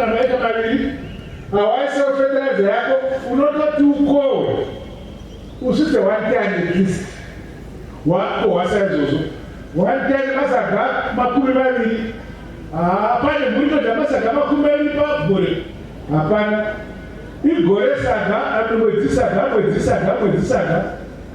Anoita maviri awaise fertilizer yako unototi ukowe usvitse one ten at least wakohwasa izvozvo one ten masaga makumi maviri ah, pane mhuri inoda masaga makumi maviri pagore hapana igore saga amwe mwedzi saga mwedzi saga mwedzi saga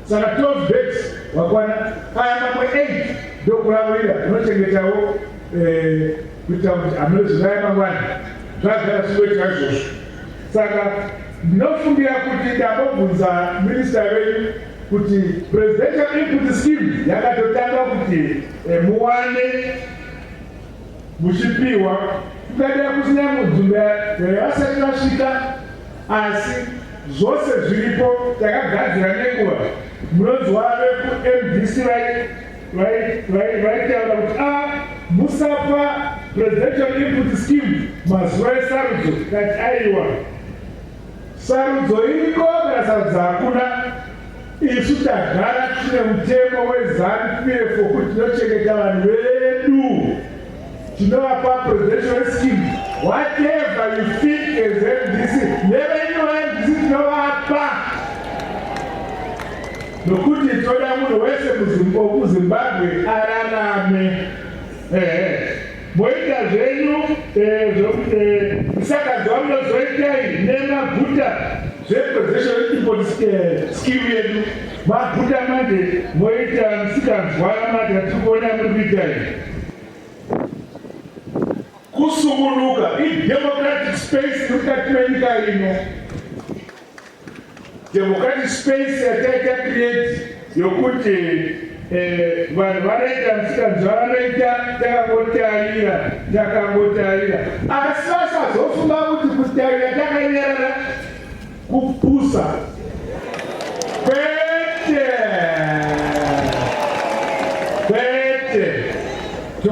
saka twelve dates wakwana aya mamwe eight ndokulavurira unochengetawo eh, kuita kuti anozivaya mangwana zvagara zvinoitika izvozvo saka ndinofungira kuti ndambobvunza minista venyu kuti presidential input scheme yakatotanga kuti eh, muwane muchipiwa kungadira kusina mudzumbe vasati vasvika asi zvose zviripo takagadzira nenguva munonzwa vekumbc vai vaitaura kuti a ah, musapa presidential input scheme mazuva esarudzo kati aiwa sarudzo iriko kana sarudzo hakuna isu tagara tine mutemo wezanu pf wokuti tinochengeta vanhu vedu tinovapa presidential scheme whatever you think as mdc nevenyuva mdc tinovapa Nokuti toda munhu wese kuZimbabwe ararame. Ehe. Moita zvenyu eh, zvokuti eh, msakazi wamunozoitai nemaguta zvepossession import eh, scheme yedu maguta manje moita msikanzwara mati hatiri kuona muri kuitai kusungunuka idemocratic space mukati menyika ino Democratic space yataita create yokuti eh, vanhu vanoita misikanzwa vanoita takangotarira takangotarira asi vasazofunga kuti kutarira takanyarara kupusa